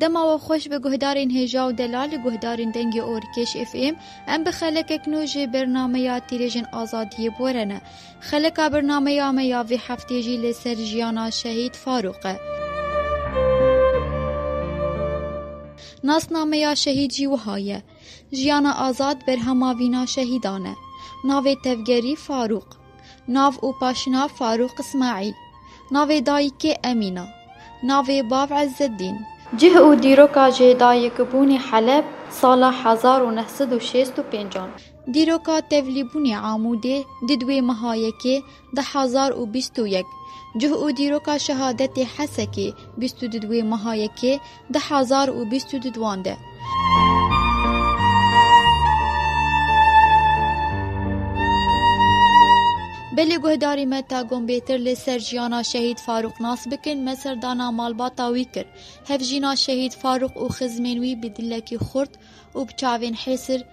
Dema we xweş bi guhdarên hêja û delal li guhdarên dengê orkêş FM em bi xelekek nû jê bernameya tîrêjên azadiyê borene. Xeleka bernameya me ya vê heftê jî li ser jiyana şehîd Farûq e. Nasnameya şehîd jî wiha ye. Jiyana azad berhama vîna şehîdan e. Navê tevgerî Farûq. Nav û paşinav Farûq Ismaîl. Navê dayîkê Emîna. Navê bav Îzzeddîn. Cih û dîroka jêdayîkbûnê Heleb sala hezar û neh sed û şêst û pênc an. Dîroka tevlîbûnê Amûdê di duwê meha yekê Di hezar û bîst û yek cih û dîroka şehadetê Hesekê bîst û du di wê meha yekê di hezar û bîst û du di wan de. Belê guhdarî me ta gon bêtir li ser jiyana şehîd Farûq nas bikin me serdana malbata wî kir. Hevjîna şehîd Farûq û xizmên wî bi dilekî xurt û bi çavên hêsir,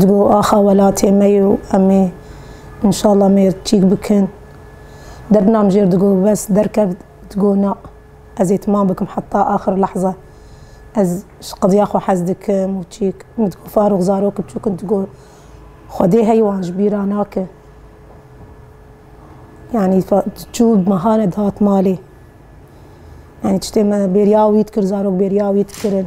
Di bo axa welatê me yo em ê inşallah mêr çîk bikin. Derdinam jêr digo bes derkevt digo na ez ê timam bikim heta axir lehza. Ez ji qediya xwe hez dikim û çîk. Min digo Farûx zarok biçûk in digo Xwedê hey wan ji bîr ra nake. Yanî diçû mehan e dihat malê. Yanî tiştê me bêriya wî dikir zarok bêriya wî dikirin.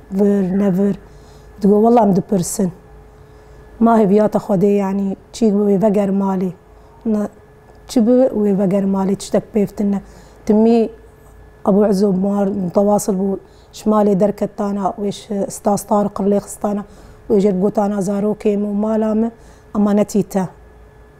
vir nevir digo wela em dipirsin ma hêviyata Xwedê yanî çî bibe wê veger malê na çi bibe wê veger malê tiştek pêv tune ne timî Ebû Ezo mar mutewasıl bû ji malê derket dana wê ji Stas Tariq rê lêxistana wê jê re gotana zarokê min û mala min ema netî te.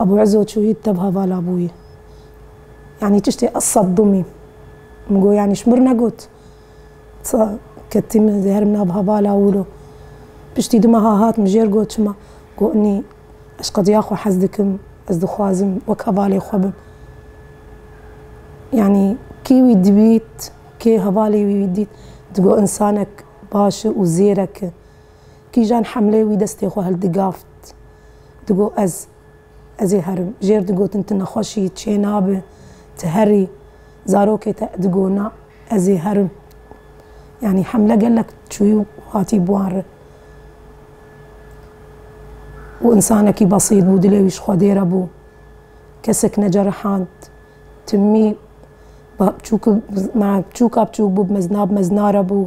Ebû Îzo çûyî tevha vala bûyî. Yanî tiştê ez sed dumî. Min got yanî ji mir negot. Sa ketî min zêher min a biha vala wilo. Piştî du meha hat min jêr got çima. Got nî ez qediya xwe hez dikim, ez dixwazim wek hevalê xwe bim. Yanî kî wî dibît, kê hevalê wî dît, digot însanek baş e û zêrek e. Kîjan hemlê wî destê xwe hildigaft, digot ez, ez ê herim. Jêr digotin tu nexweş î, çê nabe, tu her î. Zarokê te digot na, ez ê herim. Yanî hemle gelek çûyî û hatî bi wan re. Û însanekî besît bû, dilê wî ji Xwedê re bû. Kesek necerihand. Timî bi çûk, bi çûka bi çûk bû, bi mezina bi mezina re bû.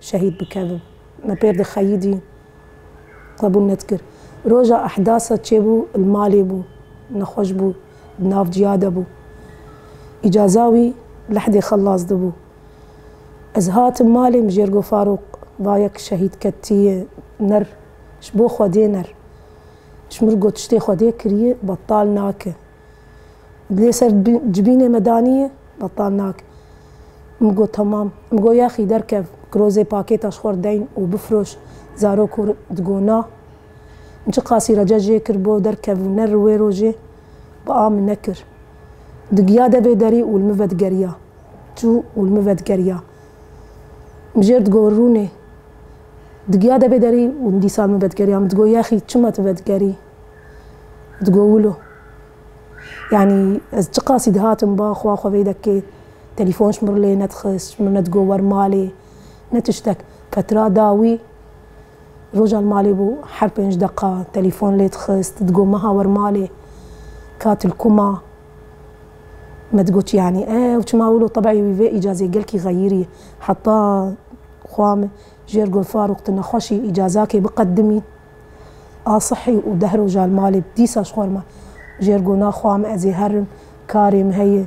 şehîd bikevin. Me pêr di xeyîdî qebûl nedikir. Roja ehdasa çêbû li malê bû, nexweş bû, di nav ciya de bû. Îcaza wî lehdê xelas dibû. Ez hatim malê mijêrgo Farûq vayek şehîd ketiyê ner ji bo xwedê ner. Ji min got tiştê xwedê kiriyê betal nake. Dilê ser cibînê me danîye, betal nake. Min got temam. Min got yaxî derkev, kirozê pakêta ji xwe deyn û bifroş. Zarok hûr digot na. Min çi qasî rece jê kir bo derkevû ne ri wê rojê, bi a min nekir. Digiya devê derî û li min vedigeriya. Çû û li min vedigeriya. Min jê re digot rûnê. Digiya devê derî û dîsa li min vedigeriya. Min digot yaxî çima tu vedigerî? Digo wilo. Yanî ez çi qasî dihatim ba xwe xwe vê dekê telîfon ji min re lê nedixist, ji min re nedigo wer malê ne tiştek. Ketira dawî roja li malê bû her pênc deqa telîfon lê dixist, digo meha wer malê ka tu li ku ma? Me digo tu yanî ew çima wilo tebî wî vê îcazê gelkî xeyirî heta xwe jêr gul Farûq tu nexweşî îcazakê biqedimî. Asihî û deh roja li malê bi dîsa ji xwe re me. Ji Ergona xwe em ez ê herin, karê min heye.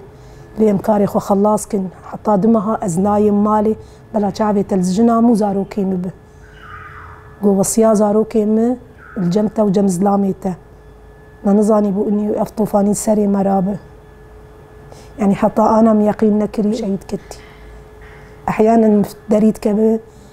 Lê em karê xwe xelas kirin. Heta du meha ez nayêm malê, bela çavê te li jina min û zarokên min be. Got wesiya zarokên min li cem te û cem zilamê te. Me nizanîbû inî û ev tofanî serê me re be. Yanî heta ana min yeqîn nekirî şehîd ketî. Ehyanen min derî dikeve.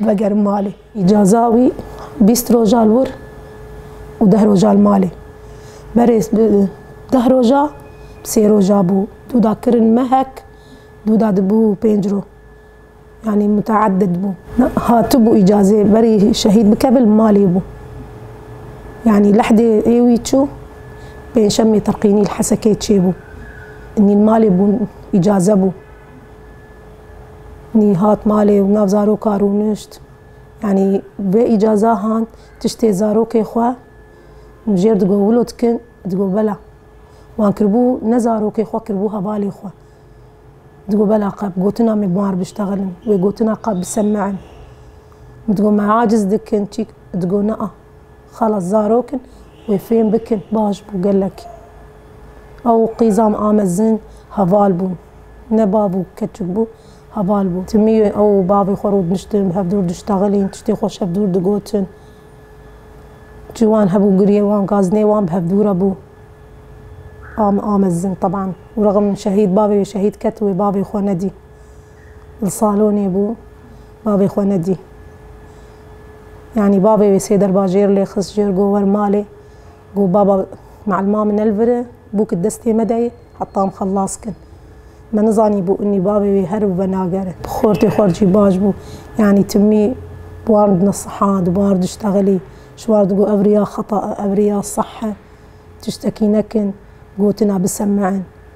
Vegerim malê. Îcaza wî bîst roja li wir û deh roja li malê. Berê deh roja, sê roja bû. Dû da kirin mehek, dû da dibû pênc roj. Yanî muteedid bû. Hatibû îcazê berî şehîd bikeve li malê bû. Yanî lehdê ê wî çû, pêncşemê Tirqînî li Hesekê çêbû. Nî li malê bûn, îcaze bû. Nî hat malê û nav zaroka rûnişt. Yanî bi îcaza han tiştê zarokê xwe min jêr digot wilo dikin, digot bela. Wan kiribû ne zarokê xwe kiribû hevalê xwe. Digot bela qe bi gotina me bar biştexilin, wê gotina qe bisemein. Min digot me aciz dikin çî? Digot na. Xalas zarok in wê fêm bikin baş bû gelek. Ew û qîzam a mezin heval bûn. Ne bav û keçik bû, heval bûn. Ti mî ew û bavê xwe rûdniştin, bi hev dûr diştexilîn, tiştê xwe şev dûr digotin. Çi wan hebû giriyê wan, gazinê wan bi hev dû re bû. A min a mezin teban û rexm şehîd bavê wê şehîd ket wê bavê xwe nedî. Li salonê bû, bavê xwe nedî. Yanî bavê wê sê derbajêr lê xist jêr got wer malê. Got baba malma min elvire bûk di destê me de ye heta em xelas kin. Me nizanîbû inî bavê wê here û venagere. Xortê xwe jî baş bû. Yanî timî biwardine siha, di biwar diştexilî. Ji war digot ev riya xeta e, ev riya seh e. Tiştekî nekin, gotina bisemein.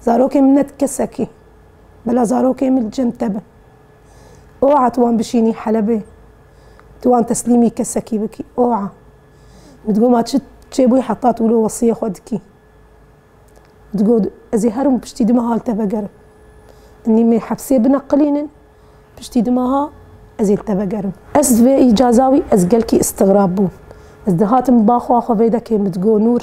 Zarokên min ne di kesekî. Bila zarokên min cem te bin. Oha tu wan bişînî Helebê. Tu wan teslîmî kesekî bikî. Oha. Min digot ma çi çêbûyî heta tu wilo wesiyê xwe dikî. Digot ez ê herim piştî du meha li te vegerim. Nî me hepsê bineqilînin, piştî du meha ez ê li te vegerim. Ez ji vê îcaza wî ez gelkî îstigrab bûm. Ez dihatim ba xwe xwe vê dekê min digot Nûr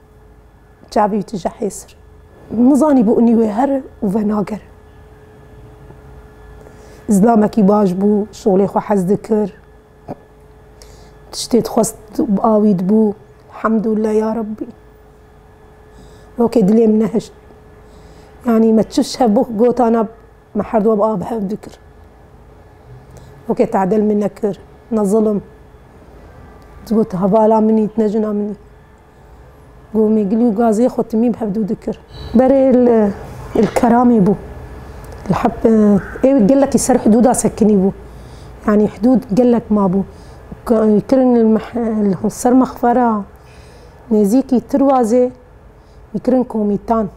Çavî wî tije hêsir. Nizanî bi unî wê here û venagere. Zilamekî baş bû, şolê xwe hez dikir. Tiştê dixwest awî dibû. Hemdûlillah ya Rabbî. Rokê dilê min nehişt. Yani me çiş hev bû gotana me her duwa bi av hev dikir. Rokê tadel min nekir. Ne zilim. Digot hevala minî, ne jina minî. Gomîglû gazê xwe timî bi hevdû dikir. Berê li li Keramê bû. Li heb ew gelekî ser hidûda sekinî bû. Yanî hidûd gelek mabû. Kirin li meh li ser mexfera nêzîkî Tirwazê wî kirin komîtan.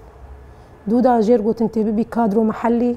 Dûda jêr gotin tê bibî kadro mehellî.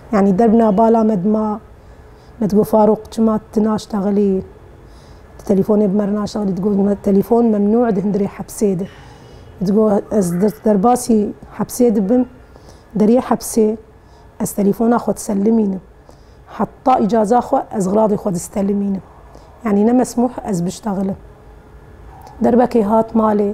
Yanî derbna bala me dima me digot Farûq çima tu naştexilî, tu telîfonê bi me re naştexilî digot me telîfon memnû di hundirê hepsê de. Digot ez derbasî hepsê dibim, deriyê hepsê ez telîfona xwe diselimînim. Heta îcaza xwe ez xiladê xwe distelimînim. Yanî ne mesmûh ez biştexilim. Derbekê hat malê.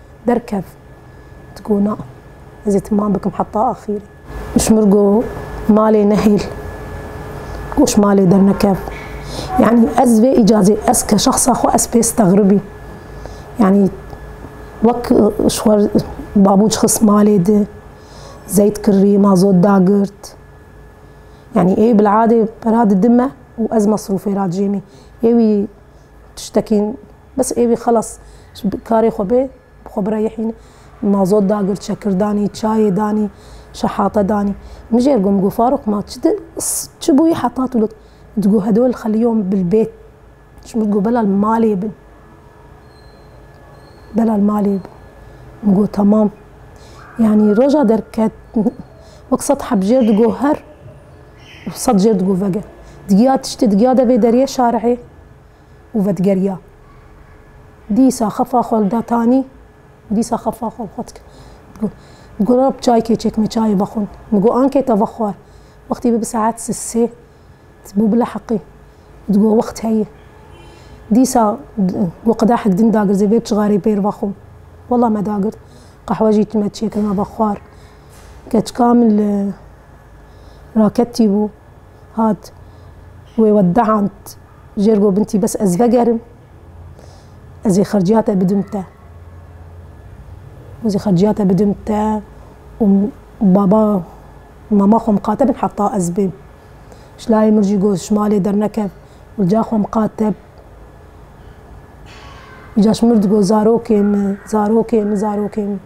Derkev. Ti got na, ez ê timam bikim heta axîrê. Mişmir got malê nehêl. Got ji malê dernekev. Yanî ez vê îcazê ez ke şexsa xwe ez pê stexribî. Yanî wek ji xwe babûc xist malê di, zeyt kirî, mazot dagirt. Yanî ê bil'adê pera didime û ez mesrûfê ra dicêmî. Ê wî tiştekî. Bes êvî xelas ji karê xwe bê bi xwe bireyihîn. Mazot dagir, çekir danî, çayê danî, şehate danî. Min jê re got, min got Farûq ma çi di çi bûyî heta tu got? Digot hedol xeliyom bil bêt. Ji min got bela li malê bin. Bela li malê bin. Min got temam. Yanî roja derket wek sed heb jêr digot her û sed jêr digot vege. Digiya tiştê digiya de vê deriyê şarihê. û vedigerîya. Dîsa xefa xwe li da tanî û dîsa xefa xwe bi xwe dikir. Digot, Digot re bi çaykê çêkme çayê vexwin. Digot, Ankê te vexwar. Wextî bû bi saet sê. Bû bileheqî. Digot, Wext heye. Dîsa got, Qedehek din dagirzê vê bi cixarê pêr vexwim. Wela me dagird. Qehwe jî me çêkir me vexwar. Keçika min li raketî bû. hat wê wedehand jêr got bintî bes ez vegerim ez ê xerciya te bidim te. Ez ê xerciya te bidim te û baba mama xwe miqate bin heta ez bêm. Ji layê min jî got ji malê dernekev uca xwe miqate bi. Uca ji min digot zarokê min, zarokê min, zarokê min.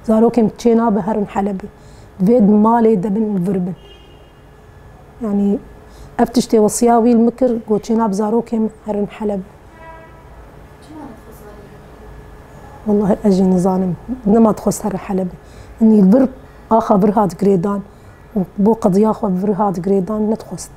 Zarokê min çê nabe herin Helebê. Divê di malê de bin û vir bin. Yanî ev tiştê wesiya wî li min kir ku çêna bi zarokên min herin Heleb. Çima dixwest herî Helebê? Walahi ez jî nizanim. Nema dixwest herin Helebê. Yanî li vir axa vir hat girêdan û bo qediya xwe vir hat girêdan nedixwest.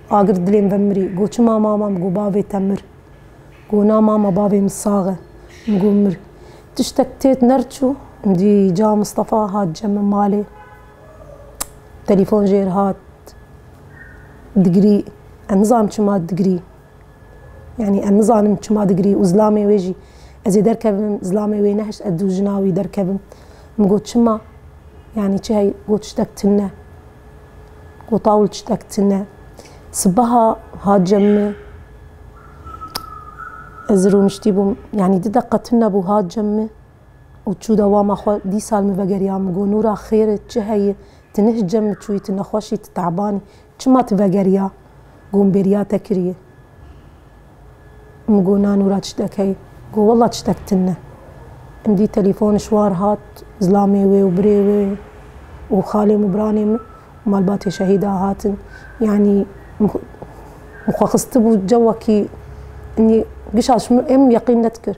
Agir dilê min ve mirî. Got çima mama? Min got bavê te mir. Got na mama bavê min sax e. Min got mir. Tiştek têt ner çû. Min dî ca Mistefa hat cemê malê. Telefon jê re hat. Digirî. Em nizanim çima digirî. Yanî em nizanim çima digirî û zilamê wê jî. Ez ê derkevim zilamê wê nehişt ez dû jina wî derkevim. Min got çima? Yanî çi heye? Got tiştek tune. Qotawul çitek tune. Sibeha hat cem min. Ez rûniştî bûm. Yanî du deqe tune bû hat cem min û çû dewama xwe. Dîsa li min vegeriya min got, Nûra xêr e, çi heye? Tu ne ji cem min çûyî, tu nexweş î, tu te'ban î. Çima tu vegeriya? Got, Min bêriya te kiriye. Min got na Nûra tiştekey. Got wela tiştek tune. Min dît telefon şwar hat, zilamê wê û birê wê û xalê min û biranê min û malbatê şehîda hatin. Yanî min xwe xistibû cewekî, yanî giş a min yeqîn nedikir.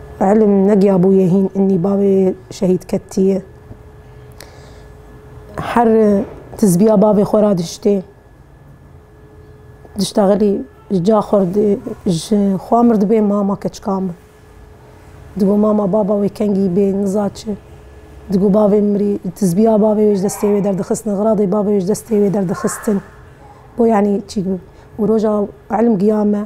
Îlm negiyabûye hîn înnî bavê şehîd kettiye. Her tizbiya bavê xwe ra diştê. Dişta xelî ji ca xwe ji xwe mirdibê mama keçikan bi. Digo mama baba wê kengî bê niza çi. Digo bavê mirî tizbiya bavê wê ji destê wê derdixistin, xiradê bavê wê ji destê wê derdixistin. Bo yanî çî û roja îlm giya me.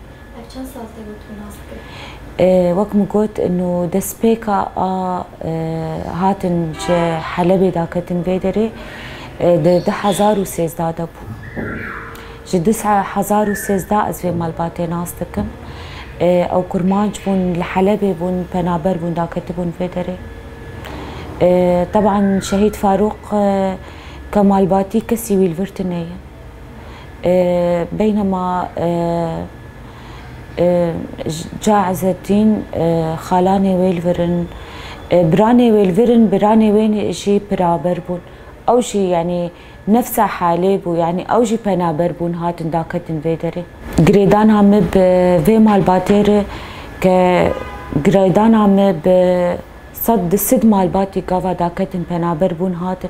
Ev çend saz tê gotin û nas dikin? Wek min got inu destpêka a hatin ji Helebê de ketin vê derê di du hezar û sêzdeh de bû. Ji du hezar û sêzdeh ez vê malbatê nas dikim. Ew kurmanc bûn, li Helebê bûn, penaber bûn da ketibûn vê derê. Teban Şehîd Farûq ke malbatî kesî wî li vir tune ye. Beynema ca Ezeddîn xalanê wê li vir in, biranê wê li vir in, biranê wê jî piraber bûn. Ew jî yanî nefsa halê bû, yanî ew jî penaber bûn hatin daketin vê derê. Girêdana me bi vê malbatê re ke girêdana me bi sed di sid malbatî gava daketin penaber bûn hatin.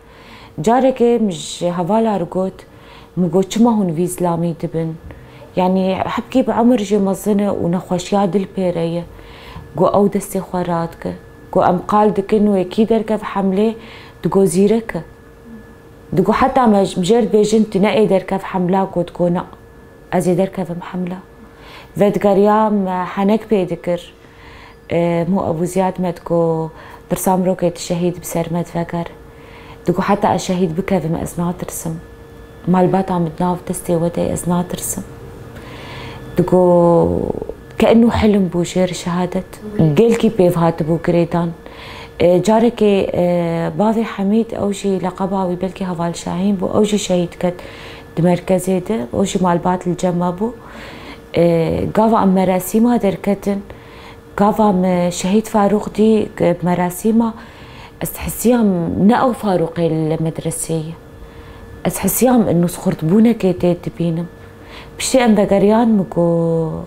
Carekê min ji hevala re got, Min got çima hûn vî zilamî dibin? Yanî hepkî bi emir jê mezin e û nexweşiya dil pê re ye. Got ew destê xwe radike. Got em qal dikin wê kî derkeve hemlê digot zîrek e. Digot heta me ji mijêr dibêjin tu ne ê derkev hemla got go na ez ê derkevim hemla. Vedigeriya me henek pê dikir. Mo Ebû Zîyad me di ku tirsa mirokê di şehîd bi ser me di veger. Di ku heta ez şehîd bikevim ez natirsim. Malbata min di nav destê we de ye ez natirsim. Di ku keenû hilm bû ji êrî şehadet. Gelkî pêv hatibû girêdan. Carekê bavê Hemîd ew jî leqeba wî belkî Heval Şahîn bû ew jî şehîd ket di merkezê de. Ew jî malbat li cem me bû. Gava em merasîma derketin, gava me Şehîd Farûq dî merasîma, ez hesiyam ne ew Farûqê li medreseyê ye. Ez hesiyam nûzxurtbûnekê tê dibînim. Piştî em vegeriyan min got,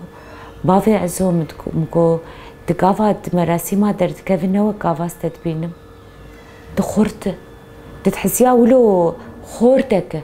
bavê Ezo min got, tu gava di merasîma derdikevî ne wek gava ez te dibînim. Tu xurt î. Tu dihesiya wilo xortek e.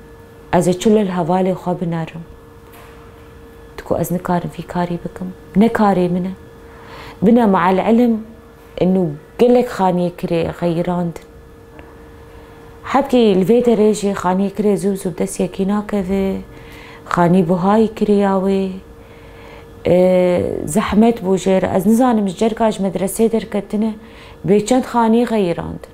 Ez ê çi li hevalê xwe binerim? Tu ku ez nikarim vî karî bikim, ne karê min e. Bine meelîlm inu gelek xaniyekirê xeyirandin. Hetî li vê derê jî xaniyekirê zû zû bi dest yekî nakeve, xanî buhayî kiriya wê. Zehmet bû jê re. Ez nizanim ji cerka ji medreseyê derketine bê çend xaniyê xeyirandin.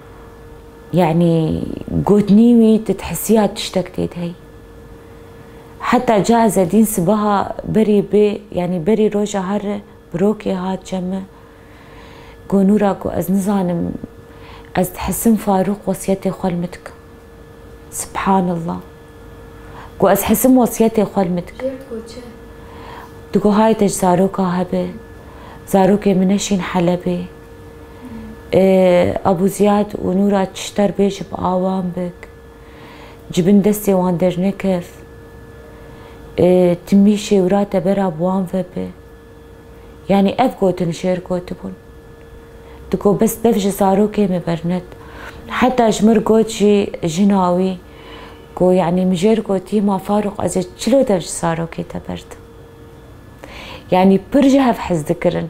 Yanî gotinî wî tu dihisiya tiştek tê de heyî. Heta ca ez edîn sibeha berî bê yanî berî roja herre birokê hat cem me. Got Nûra ku ez nizanim ez dihisim Farûq wesiyetê xwe li min dike. Sibhanallah. Got ez hisim wesiyetê xwe li min dike. Kê digot çi? Digot hay te ji zaroka hebe. Zarokê min neşîn Helebê. Abu Ziyad û Nûra Çişter bê ji bi awan bik. Ji bin destê wan dernekef. Timî şêwira te bera bi wan ve bi. Yanî ev gotin şêr gotibûn. Tu got bes bev ji zarokê me bernet. Heta ji mir got jî jina wî ku yanî min jêr gotî ma Farûq ez ê çilo dev ji zarokê te berdim. Yanî pir ji hev hez dikirin.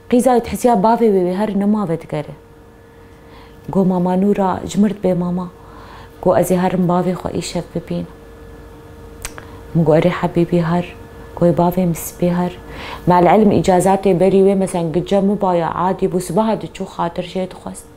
Qîza wî dihisiya bavê wê wê her nima vedigere. Got mama Nûra cimirt bê mama. Got ez ê herim bavê xwe îşev bibînim. Min got erê hebîbî her. Got ê bavê min sibê her. Me'l-ilm îcazatê berî wê meselan gica mibaya adî bû sibaha diçû xatir jê dixwest.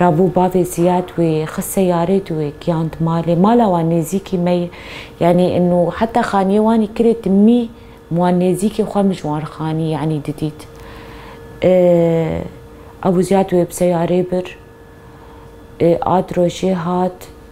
Rabû bavê Ziyad wê xist seyarê dû wê giyand malê. Mala wan nêzîkî me ye. Yanî ino heta xaniyê wanî kirê ti mî mi wan nêzîkê xwe mi ji wan re xanî yanî didît. Abû Ziyad wê bi seyarê bir. A di rojê hat.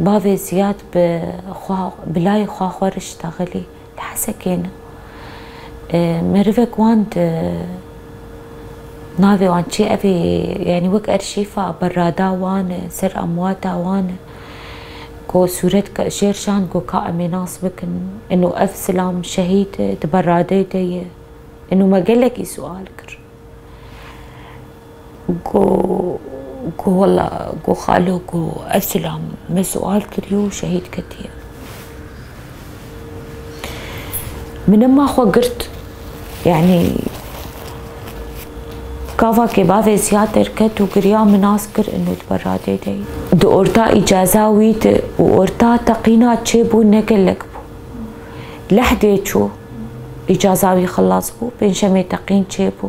Bavê Ziyad bi xwe bi layê xwe xweriş daxilî li Hesekê ne. Merivek wan di navê wan çi evê yanî wek erşîfa berada wan e, ser emwata wan e ku sûret ke jêr şand ku ka em ê nas bikin û ev silam şehîd e di beradeyê de ye û me gelekî siwal kir. Go go wela go xalo go ev silam me sual kiriyo û şehîd ketiye. Min ema xwe girt yani kavakê bavê ziyad derket û giriya min nas kir in û diber radê de yî. Di orta îcaza wî de û orta teqîna çêbû ne gelek bû. Lehdê çû îcaza wî xilas bû, pêncşemê teqîn çêbû.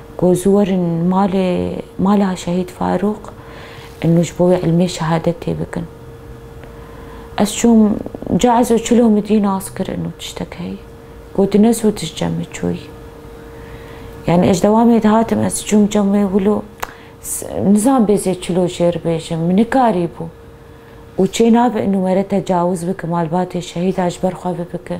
Ku zû werin malê mala Şehîd Farûq û ji bo wê ilmê şehadetê bikin. Ez çûm ca ez û çilo min dî nas kir û tiştek heye. Ku tu ne zû tişt cemê çûyî. Yanî ez ji dewamê dihatim ez çûm cemê wilo nizan bê zê çilo jêr bêjim. Min nikarî bû. Û çê nabe û were tecawiz bike malbatê şehîda ji ber xwe ve bike.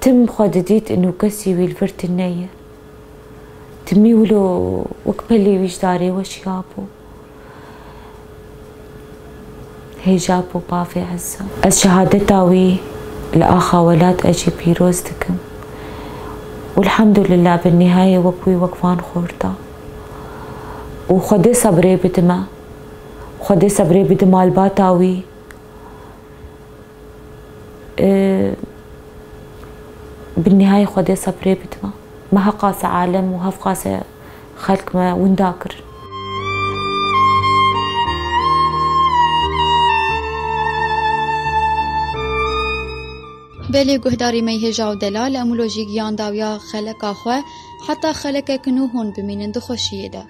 Tim xwe didît ino kesî wî li vir tune ye. Timî wilo wek pelê wî ji darê we şiya bû. Hêja bû bavê Ezza. Ez şehadeta wî li axa welat e jî pîroz dikim û elhamdulillah bi nihayê wek wî wek van xorta û xwe dê sebrê bidime. Xwe dê sebrê bidima li bata wî. Bi nihayê xwe dê seprê bidima. Me heh qase alem û heh qase xelk me winda kirin. Belê guhdarî me hêja û delal em wilo jî giyan dawiya xeleka xwe heta xelekek nû hûn bimînin di xweşiyê de.